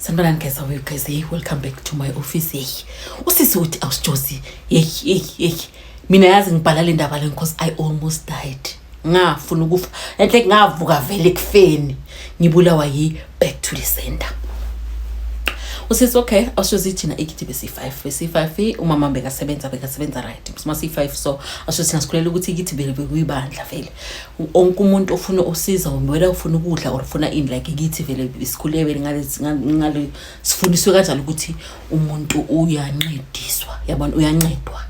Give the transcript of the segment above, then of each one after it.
sanibonani guys awe guys hey welcome back to my office hey usisi uthi awusijosi hey hey hey mina yazi ngibhala le ndaba le because i almost died ngafuna ukufa enhle ngavuka vele ekufeni ngibulawa yi back to the center usisi okay awushozi thina ikithi besi-five besi-five umama bekasebenza bekasebenza right sima si-five so awushozi thina sikhulela ukuthi ikithi bekuyibandla vele wonke umuntu ofuna usiza wena ufuna ukudla or ufuna ini like kithi vele sikhule vele ngale sifundiswe kanjalo ukuthi umuntu uyancediswa yabona uyancedwa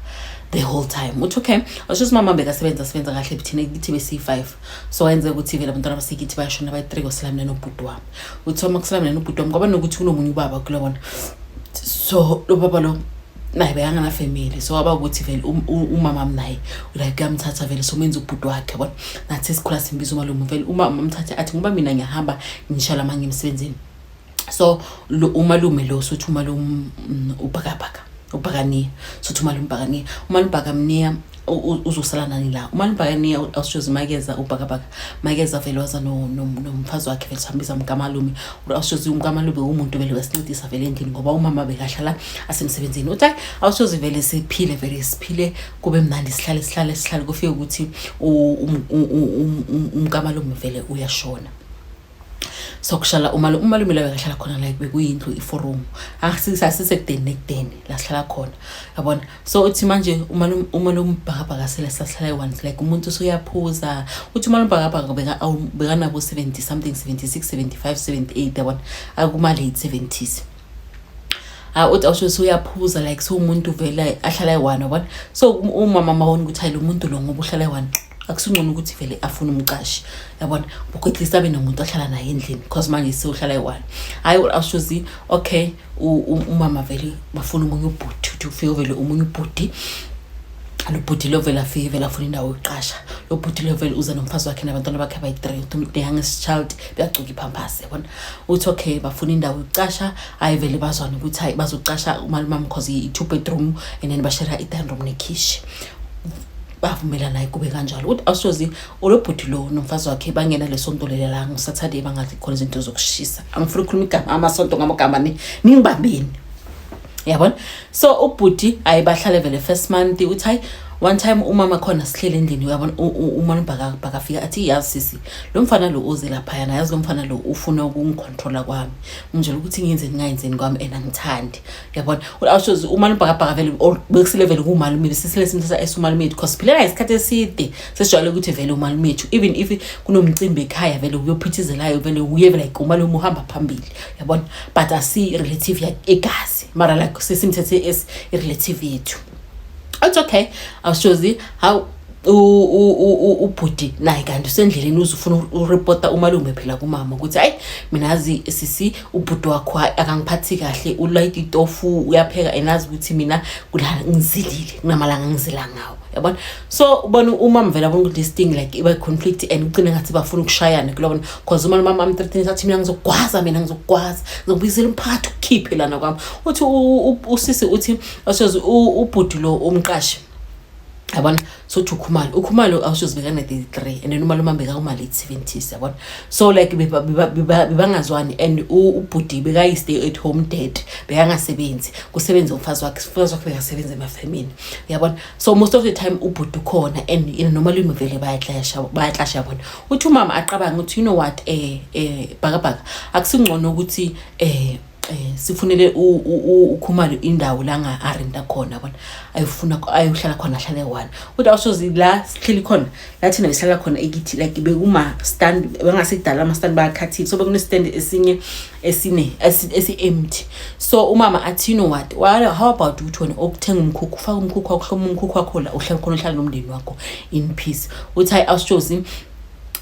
the whole time uthi okay washo ukuthi mama bekasebenza sebenza kahle buthina kithi besiyi-five so wayenzeka ukuthi vele abantwana basekithi bayashona bayi-three kwasala mina nobhuti wami uthi uma kusala mina nobhuti wami kwaba nokuthi kunomunye ubaba kulobona so lo baba lo naye bekanganafamily so waba ukuthi vele um, umama mnaye like uyamthatha vele somenza ubhuti wakhe yabona nathi sikhula simbiza umalume vele umama amthathe athi ngoba mina ngiyahamba ngisha lama ngimsebenzini so lo umalume lo sothi umalume mm, ubhakabhaka ubhakaniya sothi umalume ubhakaniya umalume ubhakamniya uzosala nani la uma nibhakaniya uawusitshozi makeza ubhakabhaka makeza vele waza nomfazi wakhe vele sihambiza umkamalume uawusitshozi umkamalume umuntu vele wesincedisa vele endlini ngoba umama bekahlala asemsebenzini uthi hayi awusitshozi vele siphile vele siphile kube mnandi sihlale sihlale sihlale kufike ukuthi umkamalume vele uyashona sokuhlala umalume umalume layo ngahlala khona like bekuyindlu iforum asisekudeni nekudeni la sihlala khona yabona so uthi manje umalume umalume ubhakabhaka sele sahlala ewanti like umuntu usuyaphuza uthi umalume ubhakabhaka beka bekanabo 70 something 76 75 78 yabona akumale 70s hayi uthi awusho suyaphuza like siwumuntu vele ahlala eyi-one yabona so umama mawona ukuthi hayi lo muntu lo ngoba uhlala eyi-one akusingcono ukuthi vele afune umqashi yabona bukho at least abe nomuntu ahlala naye endlini because manje sewuhlala eyi-one hhayi awushozi okay umama vele bafuna omunye ubhuti uthi ufike uvele omunye ubhuti lo bhuti lo vele afike vele afuna indawo yokuqasha lo bhuti lo vele uze nomfazi wakhe nabantwana bakhe abayi-three uthi uyanges child buyagcuka iphampasi yabona uthi okay bafuna indawo yokucasha hayi vele bazwana ukuthi hayi bazocasha umalumami because i-two bedroom and then bashera i-dining room nekhishi bavumelana kube kanjalo ukuthi awusozi olobhuti lo nomfazi wakhe bangena lesonto leli la ngosaturday bangathi khona izinto zokushisa angifuna ukukhuluma igama amasonto ngamagama ningibambeni yabona so ubhuti ayi bahlale vele first month uthi hayi one time umama khona sihlele endlini uyabona umona ubhakafika athi yazi sisi lo mfana lo uze laphayana yazi lo mfana lo ufuna ukungicontrola kwami ungitshela ukuthi ngiyenzeni ngayenzeni kwami and angithandi uyabona awushozi umana ubhakabhaka vele bekusile vele kuwumalume besisile simthatha esumalume yethu cause phileka isikhathi eside sesijwayele ukuthi vele umalume yethu even if kunomcimbi ekhaya vele uyophithizelayo vele uye vele like umalume uhamba phambili yabona but asi-relative egazi mara like sesimthethe as i-relative yethu it's okay awushozi how ubhuti naye kanti usendleleni uze ufuna ureporta umalume phela kumama ukuthi hayi mina azi sisi ubhuti wakho akangiphathi kahle ulayita itofu uyapheka and azi ukuthi mina kulala ngizilile kunamalanga ngizila ngawo yabona so ubona uma mvela bona ukuthi this thing like iba conflict and ucine ngathi bafuna ukushayana kulobona because uma umama am 13 sathi mina ngizokwaza mina ngizokwaza ngizobuyisela umphakathi ukhiphe lana kwami uthi usisi uthi asoze ubhuti lo umqashi yabona sothi ukhumalo ukhumalo awushoze bekana-33 and then umali umambe kakumali i-70s yabona so like bebangazwani and ubhudi bekayi-stay at home dad bekangasebenzi kusebenze umfazi wakhe umfazi wakhe bekasebenza emafemini uyabona so most of the time ubhuti ukhona and you know, normally umvele bayaclasha bayaclasha yabona uthi umama aqabanga ukuthi you know what eh eh bhakabhaka akusingcono ukuthi eh eh sifunele ukhumalo indawo la nga arenda khona bona ayifuna ayohlala khona ahlale one kodwa awusozi la sihleli khona lathina ngihlala khona ekithi like bekuma stand bengasekudala ama stand bakhathile so bekune stand esinye esine esi empty so umama athi no what wala how about ukuthi wena okuthenga umkhukhu ufaka umkhukhu wakho hloma umkhukhu wakho la uhlala khona uhlala nomndeni wakho in peace uthi hayi awushozi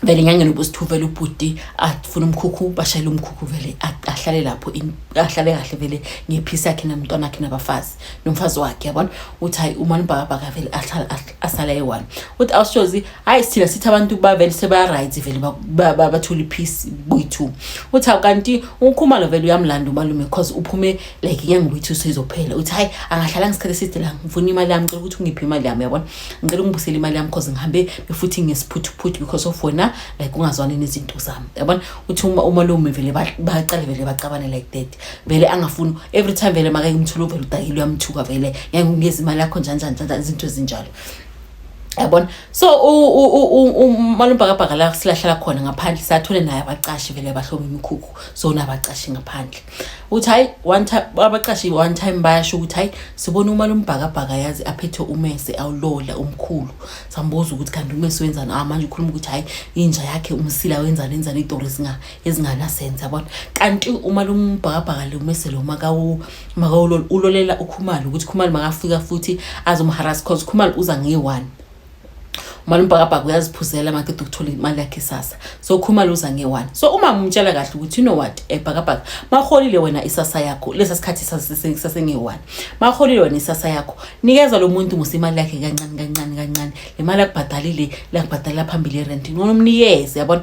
vele nyangeni ubusithuvela ubhuti afuna umkhukhu bashayele umkhukhu vele ahlale lapho ahlale kahle vele ngephisi yakhe namntwana akhe nabafazi nomfazi wakhe yabona uthi hayi uma nibhakabhaka vele ahlale asala eyi-one uthi awushozi hhayi sithina sithi abantu bavele sebaya-right vele bathole iphisi boyi-two uthi awu kanti ukhumalo vele uyamlanda umalume cause uphume like inyanga boyi-two seyizophela uthi hhayi angahlala ngesikhathi eside la ngifuna imali yami ngicela ukuthi ungiphe imali yami yabona ngicela ungibusele imali yami cause ngihambe befuthi ngesiphuthuphuthu because of wena like ungazwani nezinto zami yabona uthi umalume vele baqale vele bacabane like that vele angafuni every time vele makake umthula uvele udakile uyamthuka vele ngeke ngikeze imali yakho njani njani njani izinto ezinjalo yabona so umalumbhakabhaka la silahlala khona ngaphandle sathole naye abacashi vele abahlobo imikhukhu so nabacashi ngaphandle uthi hayi one time abacashi one time bayasho ukuthi hayi sibona umalumbhakabhaka yazi aphethe umese awulola umkhulu sambuza ukuthi kanti umese wenzani ah manje ukhuluma ukuthi hayi inja yakhe umsila wenzani wenzani idoro zinga ezinganasense yabona kanti uma lombhakabhaka lumese lo makawulol ulolela ukhumalo ukuthi khumalo makafika futhi azomharasa cause khumalo uza ngeyi-one uma lombhakabhaka uyaziphuzela makede ukuthola imali yakhe isasa so khumalo uza ngeyi-one so uma umtshela kahle ukuthi you know what ebhakabhaka eh, maholile wena isasa yakho lesa sikhathi sasengeyi-one maholile wena isasa yakho nikeza lo muntu musa imali yakhe kancane kancane kancane le mali akubhadalile lakubhadalela phambili irenti ncono umnikeze yabona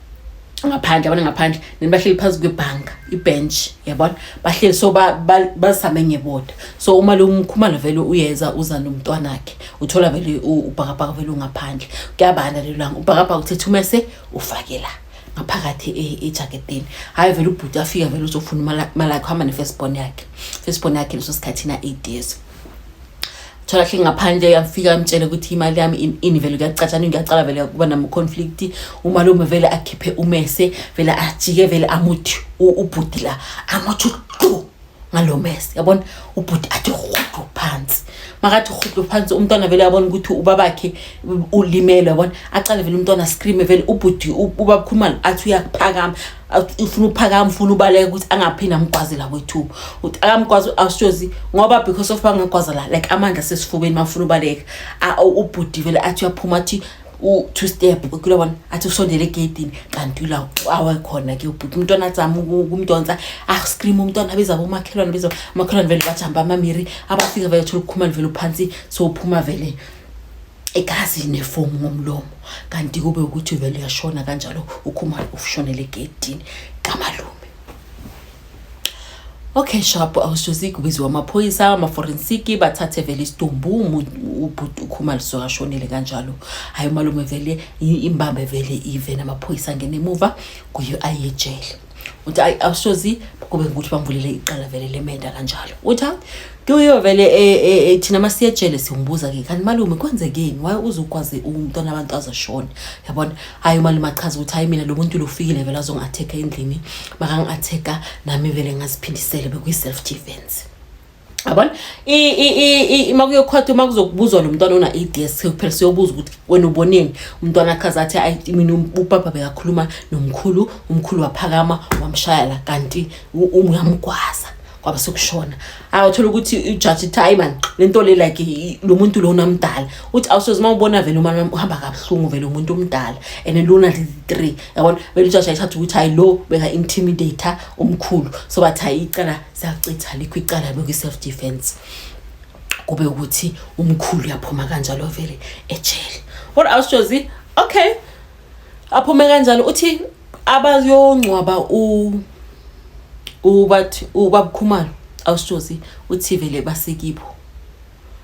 ngaphandle abane ngaphandle then bahleli phansi kwebhanka ibench yabona bahleli so bazisame ngeboda so uma lo mkhumalo vele uyeza uza nomntwana wakhe uthola vele ubhakabhaka vele ungaphandle kuyabanda lelo langa ubhakabhaka uthetha umese ufake la ngaphakathi e, ejaketini hhayi vele ubhuti afika vele uzofuna imali yakhe uhamba ne-first born yakhe first born yakhe leso sikhathi na-eight years thola hle ngaphandle yafika amtshele ukuthi imali yami ini vele kuyacatshana ngiyacala vele kuba namaconflict umalume vele akhiphe umese vele ajike vele amuthi ubhuti la amuthi qu ngalo mese yabona ubhuti athi rhudu phansi makathi rhudu phansi umntwana vele yabona ukuthi ubabakhe ulimele yabona acale vele umntwana screame vele ubhuti ubabkhulumani athi uyakuphakama ufuna uphakama ufuna ubaleka ukuthi angaphinde amgwazela kwethuba ukuthi akamgwazi awushozi ngoba because of angagwazela like amandla sesifubeni mafuna ubaleka ubhuti vele athi uyaphuma athi u-two step kula bona athi usondele egeyidini kanti ula awe khona ke ubhuti umntwana azama ukumdonsa ascream ah, umntwana abiza bomakhelwane abiza umakhelwane vele bajamba amamiri abafika vele thola ukukhumani vele uphansi so uphuma vele igazi nefomu ngomlomo kanti kube ukuthi vele uyashona kanjalo ukhumalo ufushonele egedini kamalume okay shop awusuzi kubiziwa amaphoyisa amaforensiki bathathe vele isidumbu ubhuti ukhumalo sokashonele kanjalo hayi umalume vele imbambe vele ive namaphoyisa angene emuva kuyo ayejele uthi ayi awusozi kube ngukuthi bamvulele iqala vele lemenda kanjalo uthi hayi kuyo vele eh, eh, eh, thina masiyejele siwumbuza ke kanti malume kwenzekeni waye uzokwazi umntwana abantu azashona yabona hayi umalume achaza ukuthi hayi mina lo muntu lofikile vele azongi-atheka endlini makangi-atheka nami vele ngaziphindisele bekuyi-self defense yabona uma kuyokhwathi uma kuzokubuzwa lo mntwana ona-ads kuphela siyobuza ukuthi wena uboneni umntwana akhaze athi ayi mina um, ubaba bekakhuluma nomkhulu umkhulu waphakama wamshaya la kanti uyamgwaza kwaba sekushona awuthola ukuthi ijaji ithi hayi mani le nto le like lo muntu lona mdala uthi awusoze uma ubona vele uma uhamba kabuhlungu vele umuntu omdala and lona li-three yabona vele ijaji ayithatha ukuthi hayi lo beka-intimidator omkhulu so bathi hayi icala sacitha likho icala lokwi-self defense kube ukuthi umkhulu uyaphuma kanjalo vele ejele what else jozi okay aphume kanjalo uthi abayongcwaba u ubathi ubabukhumalo awushozi uthi vele basekibo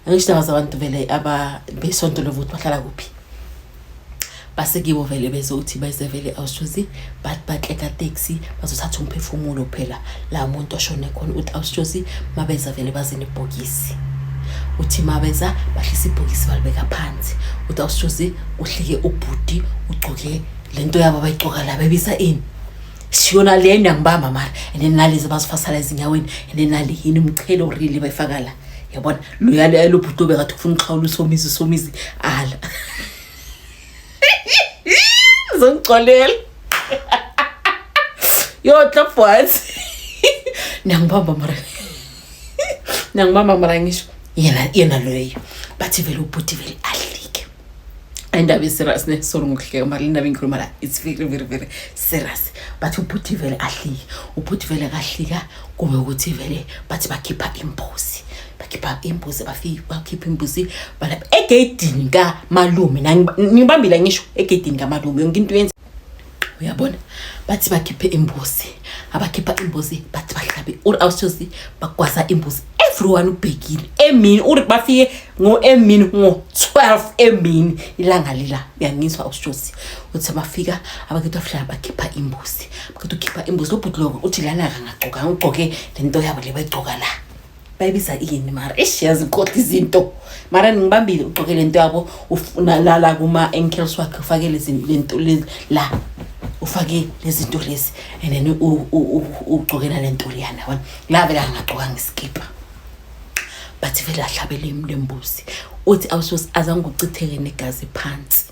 angisindaba zabantu vele aba besonto lovo ukuthi bahlala kuphi basekibo vele bezothi bese vele awushozi but batleka taxi bazothatha umphefumulo phela la muntu oshone khona uthi awushozi mabeza vele bazini ibhokisi uthi mabeza bahlisa ibhokisi balibeka phansi uthi awushozi uhlike ubhuti ugcoke lento yabo abayigcoka la bebisa ini siyona le nangibamba mara and then nalezi abazifasala ezinyaweni and then nale yini umchelo really bayifaka la yabona loyalo yalobhuti obekathi ufuna uxhawula usomizi usomizi ala zongixolela yo clap once nangibamba mara nangibamba mara ngisho yena yena loyo bathi vele ubhuti vele ahle indaba i-serious ne sorry ngokuhleka mara le ndaba engikhuluma la it's very very very serious but ubhuti vele ahlike ubhuti vele kahlika kube ukuthi vele bathi bakhipha imbuzi bakhipha imbuzi bafike bakhipha imbuzi balapha egeyidini kamalume nibambile ngisho egeyidini kamalume yonke into yenza uyabona bathi bakhiphe imbuzi abakhipha imbuzi bathi bahlabe uri awusozi bagwaza imbuzi everyone ubhekile emini uri bafike ngo-emini ngo-12 emini ilanga lila uyangizwa awusozi uthi bafika abakhetha bahlala bakhipha imbuzi bakhetha ukhipha imbuzi lobhuti loko uthi lana kangagcokanga ugcoke le nto yabo le bayigcoka la bayibiza ini mara eish yazi uqoqa izinto mara ngibambile ugqoke le nto yabo unalala kuma-ankles wakhe ufake lento la ufake lezi nto lezi and then ugqokela le nto liyana yabona la vele angagqokanga isikibha but vele ahlabele lembuzi uthi awusos azange uchitheke negazi phansi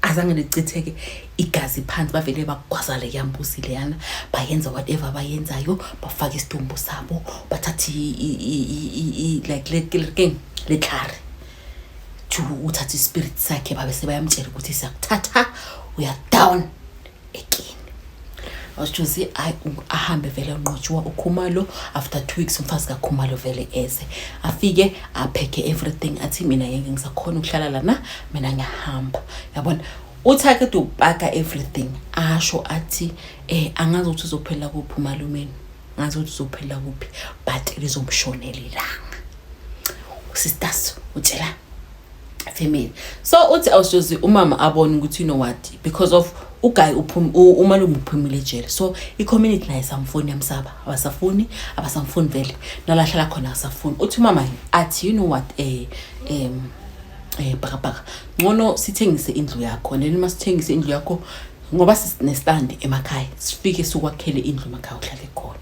azange lichitheke igazi phansi bavele bagwazale yambusi leyana bayenza whatever abayenzayo bafake isidumbu sabo bathathe like king letlhare to uthatha ispirit sakhe babe sebayamtshela ukuthi siyakuthatha uyadown ekini wasitshozi ahambe vele unqotshiwa ukhumalo after two weeks umfazi kakhumalo vele eze afike aphekhe everything athi mina ngeke ngisakhona ukuhlala lana mina ngiyahamba yabona uthi ake upaka everything asho athi eh angazi ukuthi uzophela kuphi umalumeni ngazi ukuthi uzophela kuphi but lizomshonela ilanga sisters utshela female so uthi awusoze umama abone ukuthi you know what because of uguy umalume uphumile ejele so i-community naye samfuni yamsaba abasafuni abasamfuni vele nalahlala khona asafuni uthi umama athi you know what eh um eh bhakabhaka ngcono sithengise indlu yakho neni uma sithengise indlu yakho ngoba sinestand emakhaya sifike sikwakhele indlu emakhaya uhlale khona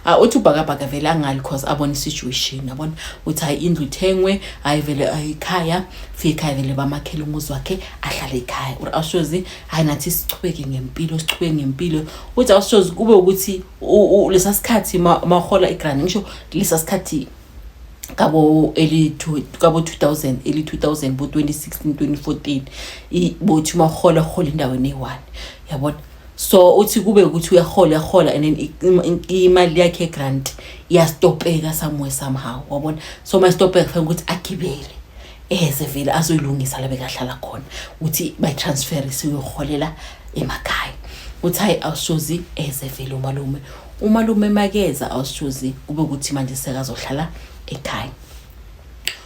Ah, uthi ubhakabhaka vele angali cause abona isituation yabona uthi hayi indlu ithengwe hayi vele ikhaya fika ikhaya vele bamakhele umuzi wakhe ahlale ikhaya or awushozi hayi nathi sichubeke ngempilo sichubeke ngempilo uthi awushozi kube ukuthi lesa sikhathi mahola igrand ngisho lesa sikhathi kabo eli kabo 2000 eli 2000 bo 2016 2014 ibothi mahola hola indawo ne-one yabona so uthi kube ukuthi uyahola uyahola and then imali yakhe grant iyastopeka somewhere somehow wabona so mayistopeka kufanele ukuthi agibele eze vele azoyilungisa la bekahlala khona uthi bayitransfer isiyoholela emakhaya uthi hayi awushozi eze vele umalume umalume makeza awushozi kube ukuthi manje sekazohlala ekhaya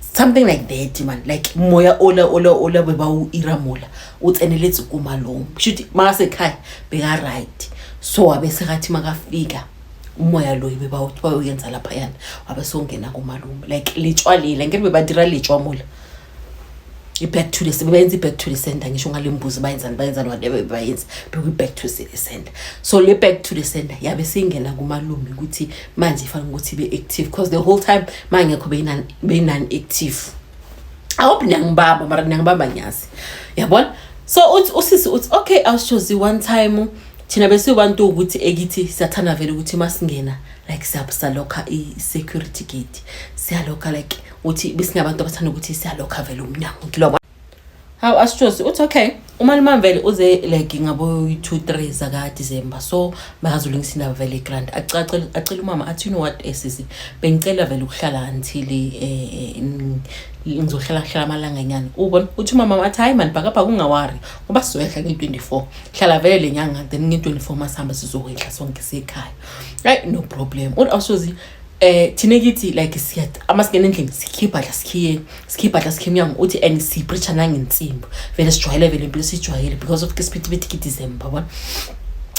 something like that man like moya ola ola ola beba u ira mola u tseneletse ku malong shuthi maka se kai be ga right so abe se gathi maka fika umoya loyi beba u twa u yenza lapha yana abe so ngena ku malong like le tshwa le la ngere beba dira le tshwa mola i back to the sebe yenza back to the center ngisho ngale mbuzi ba yenza ba yenza whatever ba yenza be ku back to the center so le back to the center yabe singena ku malong ukuthi manje fanele ukuthi be-active because the whole time ma ngekho beyinan-active i hope niyangibamba mara niyangibamba ngiyazi yabona so uthi usisi uthi okay awushozi one time thina besibantu ukuthi ekithi siyathanda vele ukuthi uma singena like salokha i-security gate siyalokha like uthi besingabantu abathanda ukuthi siyalokha vele umnyango ngilobona Hawu asitshosi uthi okay umalume vele uze like ngaboyi-two three zakadisemba so makazulungisa indaba vele igrant acele umama athi you know what esisi eh, bengicela vele ukuhlala until eh, eh, ngizohlala kuhlala amalanga nyana ubona uthi umama athi hayi mani bhakabhaka ungawari ngoba sizoyehla nge-twenty four hlala vele le nyanga then nge-twenty four masihamba sizokwehla sonke sekhaya right no problem uthi awusozi eh thina kithi like siya ama singena endlini sikhipha la sikhiye sikhipha la sikhiye umnyango uthi and sipreacha nangensimbi vele sijwayele vele impilo sijwayele because of kisiphithi December yabona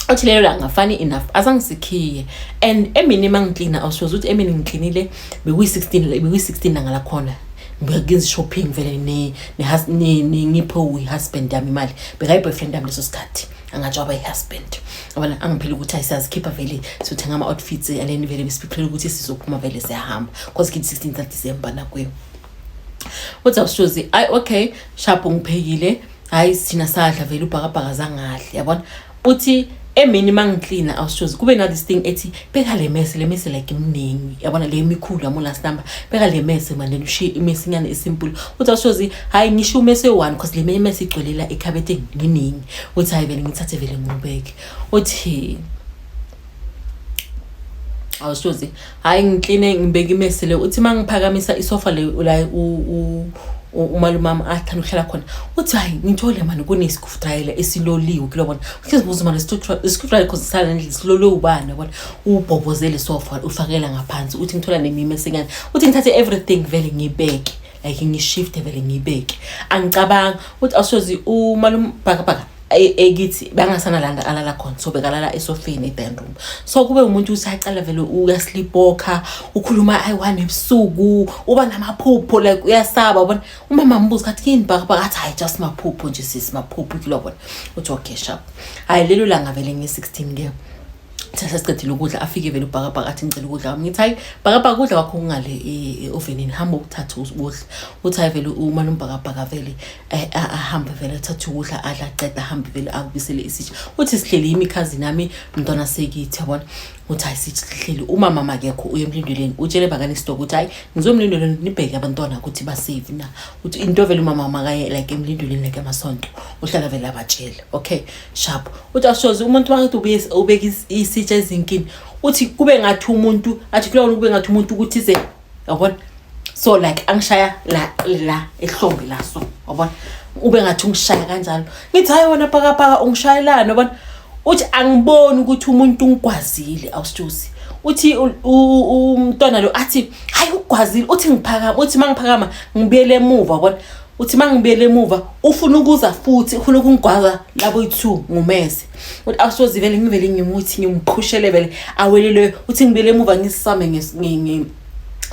othi lelo langa funny enough azange sikhiye and emini mangiklina awusoze ukuthi emini ngiklinile bekuyi-16 bekuyi-16 langa lakhona ngiyakenza shopping vele ne ne ngipho husband yami imali bekayi boyfriend yami leso sikhathi angatsho aba yi-husband abana angiphile ukuthi ayisazikhipha vele siyothenga ama-outfits and then vele besiphiphile ukuthi sizophuma vele siyahamba cause kini 16 tha december nakuyo uthi awushozi ayi okay shapho ngiphekile hhayi thina sadla vele ubhakabhaka zangahle yabona uthi emini uma ngiklina awushozi kube na this thing ethi beka le mese le mese like imningi yabona le mikhulu yamo last number beka le mese manje ushiye imese inyane isimple uthi awushozi hayi ngisho umese one because le menye mese igcwelela ekhabetheni nginingi uthi hayi vele ngithathe vele ngibeke uthi awushozi hayi ngikline ngibeke imese le uthi mangiphakamisa isofa le la umalumama athanda ukuhlala khona uthi hayi ngithole mani kunesikho futayela esiloliwe kilobona sizibuza manje isikhutshwa ikhonsisana nje silole ubani yabona ubhobozele sofa ufakela ngaphansi uthi ngithola nemime senyana uthi ngithathe everything vele ngibeke like ngishifte vele ngibeke angicabanga ukuthi awusozi umalume bhakabhaka e, ekithi bangasana landa alala khona so bekalala esofeni eband room so kube umuntu usacala vele uyaslipoka ukhuluma ayi-one ebusuku uba namaphupho like uyasaba ubona umama ambuza kathi kini bhakabhaka athi hayi just maphupho nje sisi maphupho kilobona uthi okay sharp hayi lelo langa vele nge-16 ke thatha siqedile ukudla afike vele ubhakabhaka athi ngicela ukudla wami ngithi hayi bhakabhaka ukudla kwakho kungale e, e, ovenini hamba ukuthatha ukudla uthi hayi vele uma lombhakabhaka vele eh, ahambe vele athathe ukudla adla aqeda ahambe vele akubisele isitsha uthi sihleli yimikhazi nami mntwana sekithi yabona uthi hayi sihleli umama makekho uye emlindweleni utshele bakane isitoko ukuthi hayi ngizomlindweleni nibheke abantwana ukuthi basafe na uthi into vele umama makaye like emlindweleni like amasonto uhlala vele abatshele okay sharp uthi ashoze umuntu wakithi ubuye ubeka isitsha ezinkini uthi kube ngathi umuntu athi kulawona kube ngathi umuntu ukuthi ze yabona so like angishaya la la ehlombe la so yabona ube ngathi ungishaya kanjalo ngithi hayi wena pakapaka ungishayelani yabona uthi angiboni ukuthi umuntu ungigwazile awusithusi uthi umntwana lo athi hayi ugwazile uthi ngiphakama uthi mangiphakama ngibuyele emuva bona uthi mangibuyele emuva ufuna ukuza futhi ufuna ukungigwaza labo yi2 ngumese uthi awusoze vele ngivele ngimuthi ngimqhushele vele awelile uthi ngibele emuva ngisame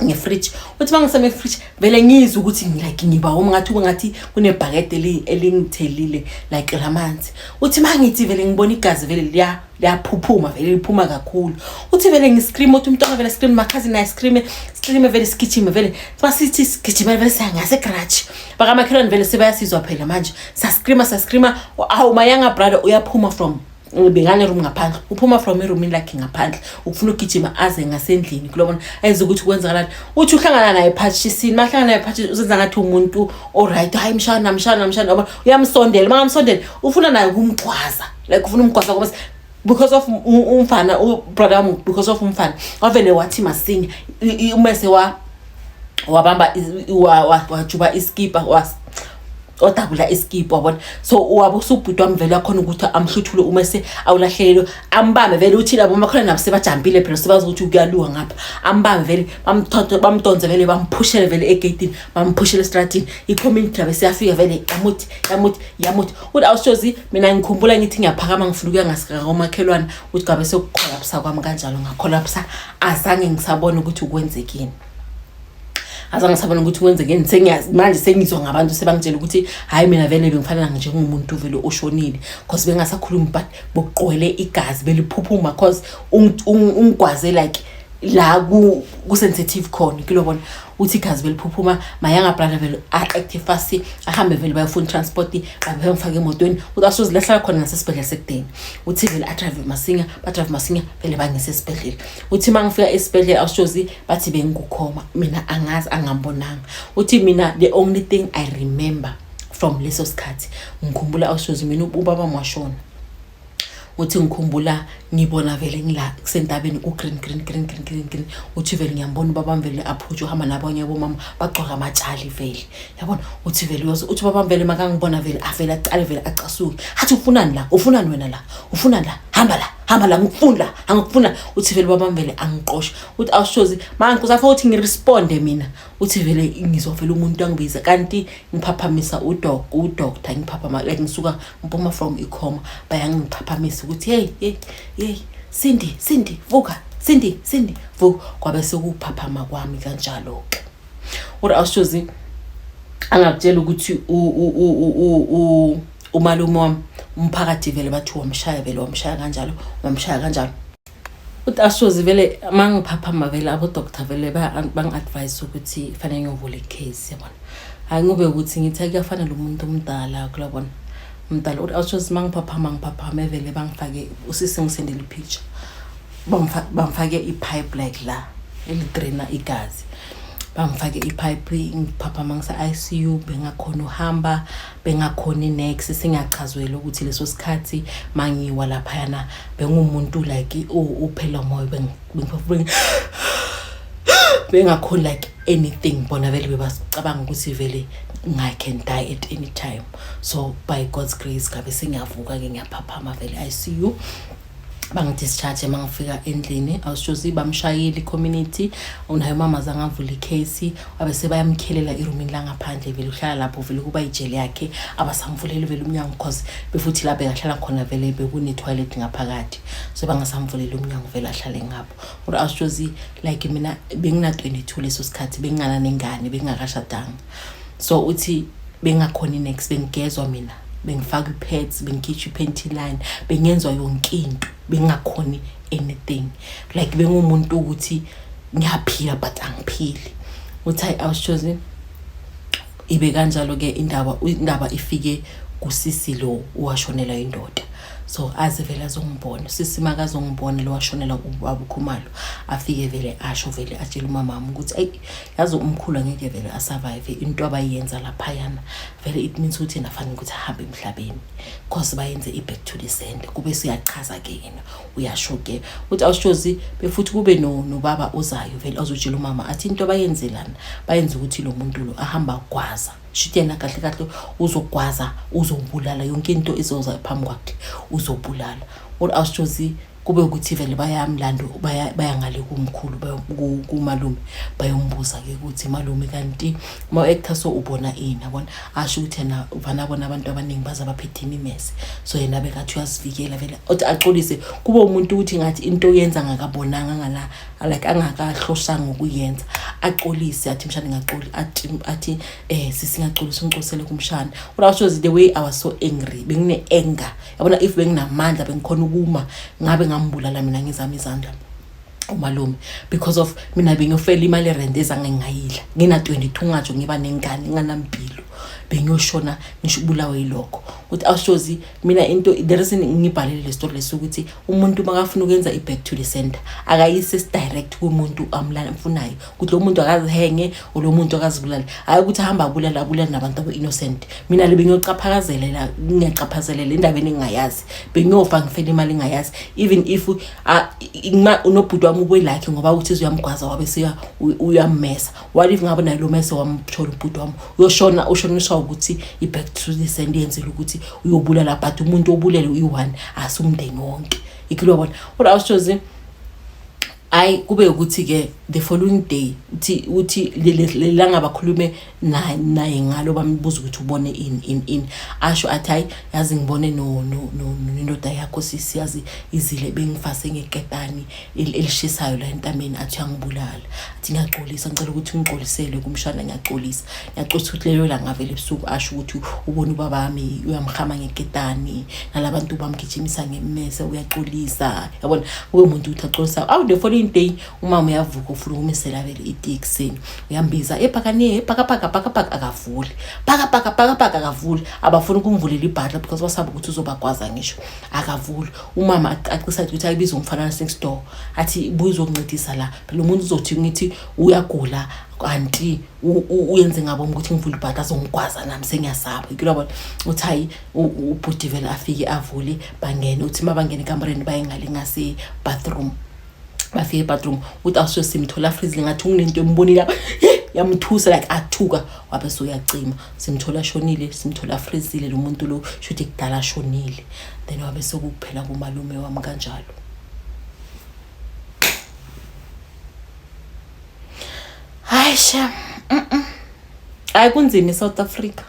ngefridge uthi uma ngisame efridge vele ngizwe ukuthi like ngiba woma ngathi ube ngathi kunebhakede elingithelile like lamanzi uthi uma ngithi vele ngibona igazi vele liya liyaphuphuma vele liphuma kakhulu uthi vele ngiscream uthi umntwana vele scream makhazi naye scream scream vele sigijime vele sithi sigijime vele siya ngasegrudge bakamakhelwane vele sebayasizwa phela manje sascreama sascreama awu mayanga brother uyaphuma from bengane room ngaphandle uphuma from eroomini lakhe ngaphandle ukufuna ukugijima aze ngasendlini kulobona ayenza ukuthi kwenzakalani uthi uhlangana naye phatshisini mahlangana naye phatshisini uzenza ngathi umuntu oright hayi mshana mshana mshana oba uyamsondela mangamsondela ufuna naye ukumgcwaza like ufuna umgcwaza ngoba because of umfana ubrother wami because of umfana wavele wathi masinya umese wa wabamba wajuba iskipa was odabula iskipa wabona so wabe usubhuti wami vele akhona ukuthi amhluthule uma se awulahlelelo ambambe vele uthi labo makhona nabo sebajambile phela sebazi ukuthi kuyaluwa ngapha ambambe vele bamthonto bamdonze vele bamphushele vele egeyitini bamphushele estratini i-community yabe siyafika vele yamuthi yamuthi yamuthi uthi awushozi mina ngikhumbula ngithi ngiyaphakama ngifuna ukuya ngasikakomakhelwane ukuthi gabe sekukholaphisa kwami kanjalo ngakholapsa azange ngisabona ukuthi kwenzekeni azange ngisabona ukuthi kwenzekeni sengiyazi manje sengizwa ngabantu sebangitshela ukuthi hhayi mina vele bengifanela njengomuntu vele oshonile cause bengasakhulumi but bokuqwele igazi beliphuphuma cause ungigwaze like la ku-sensitive khona kilobona uthi igazi beliphuphuma mayanga brother vele a-active fast ahambe vele bayofuna transport qabe bemfake emotweni uthi asozilahla khona ngasesibhedlela sekudeni uthi vele adrive masinya badrive masinya vele bangise esibhedlela uthi uma ngifika esibhedlela awushozi bathi bengikukhoma mina angazi angambonanga uthi mina the only thing i remember from leso sikhathi ngikhumbula awushozi mina ubaba mwashona uthi ngikhumbula ngibona vele ngila kusentabeni ku-green green green green green green uthi vele ngiyambona ubabam vele aphuthe uhamba nabanye abomama bagcwaka amatshali vele yabona uthi vele uyoze uthi ubabam vele makangibona vele avele aqale vele acasuke hathi ufunani la ufunani wena la ufunani la hamba la hamba la ngikufuni la angikufuni la uthi vele ubabam vele angiqoshe uthi awushozi manje kusafa ukuthi ngiresponde mina uthi vele ngizwa vele umuntu angibiza kanti ngiphaphamisa udok udoctor ngiphaphama like ngisuka Mpuma from ikhoma bayangiphaphamisa ukuthi hey hey hey Cindy Cindy vuka Cindy Cindy vuka kwabe sekuphaphama kwami kanjalo ke Ura awushozi angakutshela ukuthi u u u u umalume wami umphakathi vele bathi wamshaya vele wamshaya kanjalo wamshaya kanjalo uthi ashozi vele uma ngiphaphama vele abodoktar vele bangi-advise ukuthi fanele ngiyovula icase yabona hhayi ngobe ukuthi ngithi kuyafana lo muntu omdala kulabona mdala uthi ashozi uma ngiphaphama ngiphaphame vele bangifake usisi ngisendela ipicture bangifake i-pipe like la elidraina igazi bangifake i-pipe ngiphaphama ngise-i c u bengakhona uhamba bengakhona inex singachazwela ukuthi leso sikhathi mangiwa laphayana bengumuntu like uphela umoya bengiphefumula bengakhoni like anything bona vele bebacabanga ukuthi vele i can die at any time so by god's grace ngabe sengiyavuka-ke ngiyaphaphama vele i see you bangidischarge uma ngifika endlini awushozi bamshayeli community unayo umama zange avule icase wabe sebayamkhelela irumini langaphandle vele uhlala lapho vele kuba ijele yakhe abasamvuleli vele umnyango because befuthi la bekahlala khona vele bekune-toilet ngaphakathi so bangasamvuleli umnyango vele ahlale ngapho kodwa awushozi like mina bengina-twenty-two leso sikhathi bengingananengane bengingakashadanga so uthi bengakhona next bengigezwa mina bengifaka ipads bengikhitsha ipanty line bengenzwa yonke into bengakhoni anything like bengumuntu ukuthi ngiyaphila but angiphili uthi i was chosen ibe kanjalo ke indaba indaba ifike kusisi lo washonela indoda so aze vele azongibona sisi makazongibona lo washonela ubaba ukhumalo afike vele asho vele atshela umama wami ukuthi ayi yazi umkhulu angeke vele asurvive into abayenza laphayana vele it means ukuthi yena fanele ukuthi ahambe emhlabeni cause bayenze i-back to the send kube suyachaza ke yena uyasho ke ukuthi awushozi befuthi kube nobaba no ozayo vele azotshela umama athi into abayenzelana bayenza ukuthi lo muntu lo ahamba gwaza shuthi yena kahle kahle uzogwaza uzobulala yonke into izoza phambi kwakhe uzobulala or awushozi kube ukuthi vele bayamlanda bayangale kumkhulu kumalume bayombuza-ke ukuthi malume kanti ma-actor so ubona ini abona asho ukuthi yena uvana bona abantu abaningi baze baphethe imimese so yena bekathi uyazivikela vele othi axolise kube umuntu ukuthi ngathi into yenza angakabonanga angala like angakahloshanga ukuyenza axolise athi mshana ngacoli athi athi eh sisingacolisa umcosele kumshana urawusho the way i was so angry bengine anger yabona if benginamandla bengikhona ukuma ngabe ngambulala mina ngizama izandla umalume because of mina bengiyofela imali erent ezange ngingayidla ngina-22 ngatsho ngiba nengane nginganampilo bengiyoshona ngisho ubulawe yilokho ukuthi awushozi mina into the reason ngibhalele le story lesi ukuthi umuntu makafuna ukwenza i-back to the center akayise sidirect kumuntu amfunayo ukuthi lo muntu akazihenge or lo muntu akazibulale hhayi ukuthi ahamba abulale abulale nabantu abo-innocent mina le bengiyocaphakazelela ngingacaphazelele endabeni engingayazi bengiyofa ngifele imali engingayazi even if unobhuti wami ubuyilakhe ngoba uthi zuyamgwaza wabe siya uyammesa what if ngabe naye lo mese wamthola ubhuti wami uyoshona ushoniswa ukuthi i-back to the send yenzela ukuthi uyobulala but umuntu obulele uyi-one asumndeni wonke ikilobona kodwa awushozi hayi kube ukuthi-ke the following day uthi uthi lelanga bakhulume naye naye ngalo bambuza ukuthi ubone ini ini ini asho athi hayi yazi ngibone no no no nendoda yakho sisi yazi izile bengifase ngekepani elishisayo la entameni athi uyangibulala athi ngiyaxolisa ngicela ukuthi ngixolisele kumshana ngiyaxolisa yacotha ukuthi leyo langa vele ebusuku asho ukuthi ubona ubaba wami uyamhama ngeketani nalabantu bamgijimisa ngemmese uyaxolisa yabona kube umuntu ukuthi axolisa awu the following day umama uyavuka ufuna ukumisela vele iti ekuseni uyambiza ebhakane ebhakabhaka bhakabhaka akavuli bhakabhaka bhakabhaka akavuli abafuni ukumvulela ibhatla because basaba ukuthi uzobagwaza ngisho akavuli umama acacisa ukuthi ayibize umfana next door athi buye uzokuncedisa la phela umuntu uzothi ngithi uyagula kanti uyenze ngabo ukuthi ngivule ibhadi azongigwaza nami sengiyasaba kulabona uthi hayi ubhuti vele afike avule bangene uthi uma bangene ekamureni bayengale ngasebathroom bafike ebathroom uthi awusuke simthola afrizile ngathi unginento embonile lapha yamthusa like athuka wabe soyacima simthola shonile simthola afrizile lo muntu lo shuthi kudala shonile then wabe sokuphela kumalume wami kanjalo hayi shem hayi kunzima i-south africa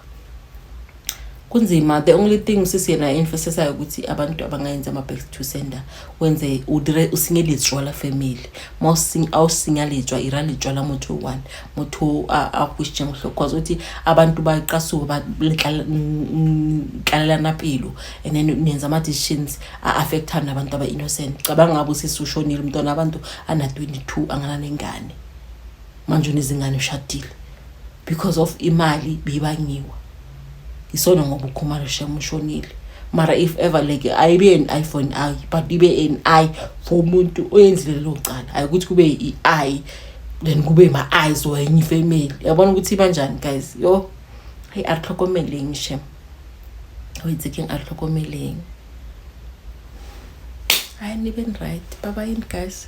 kunzima the only thing usisi yena enfosesayo ukuthi abantu abangayenzi ama-back to sender wenze usingelejwala family ma awusingalejwa ira lejwala motho one motho akwishe ngohlo cause uthi abantu baqasuke baletlalelana pilo and then nenza ama-decisions a-affectana abantu aba-innocent cabanga ngabe usisi ushonile umntwana abantu ana 22 angananengane manje unezingane ushadile because of imali bibangiwa isona ngoba ukhumalo shem ushonile mara if ever like ayibe an i for an i but ibe an i for umuntu oyenzile lelo cala ayikuthi kube i-i then kube ma-eyes or enye ifamily yabona ukuthi ibanjani guys yo hayi atlhokomeleng shem wenzekeng atlhokomeleng hayi nibe right baba yini guys